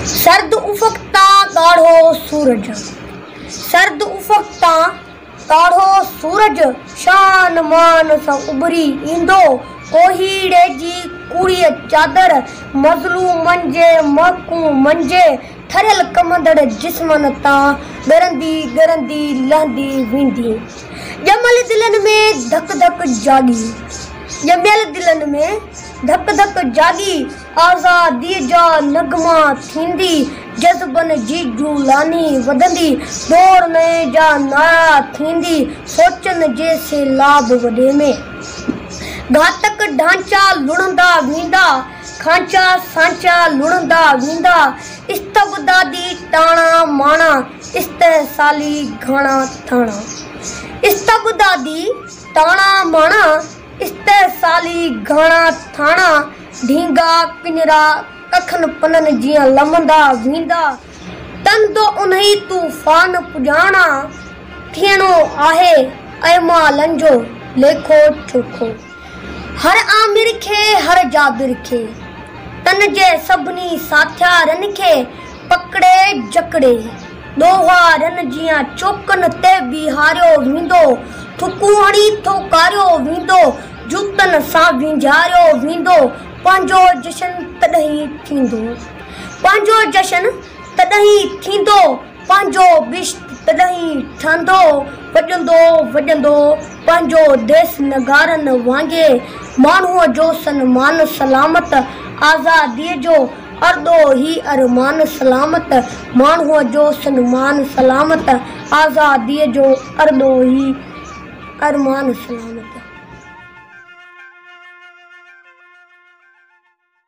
سرد افق تان ڳاڙهو سورج سرد افق تان ڳاڙهو سورج شان مان سان اڀري ايندو ڪوهيڙي جي ڪوڙيء چادر مظلومن جي مهڪون منجهي ٺريل ڪنبندڙ جسمن تان ڳرندي ڳرندي لهندي ويندي ڄميل دلن ۾ ڌڪ ڌڪ جاڳي ڄميل دلن ۾ ڌڪ ڌڪ جاڳي آزادي جا نغما ٿيندي جذبن جي جولاني وڌندي دور نئين جا نعرا ٿيندي سوچن جي سيلاب وڏي ۾. گهاتڪ ڍانچا لڻندا ويندا کانچا سانچا لڻندا ويندا استبدادي ٽاڻا ماڻا استحصالي گهاڻا ٿاڻا استبدادي ٽاڻا ماڻا. استحصالي گهڻا ٿاڻا، ڍينگا، پڃرا، ڪکن پنن جيان لمهندا ويندا، تن دو انهي طوفان پڄاڻا، ٿيڻو آهي اعمالن جو ليکو چوکو. هر آمر کي، هر جابر کي، تن جي سڀني ساٿيارن کي، پڪڙي جڪڙي. ڏوهارن جيان چوڪن تي بيهاريو ويندو، ٿڪون هڻي ٿوڪاريو ويندو، جوتن سان وينجهاريو ويندو، پنهنجو جشن تڏهن ٿيندو، پنهنجو جشن تڏهن ٿيندو، پنهنجو بهشت تڏهن ٺهندو، وڄندو وڄندو پنهنجو ديس نغارن وانگي، ماڻهوء جو سنمان سلامت، آزاديء جو. اردو هي ارمان سلامت، ماڻهوء جو سنمان سلامت، آزاديء جو اردو هي ارمان سلامت.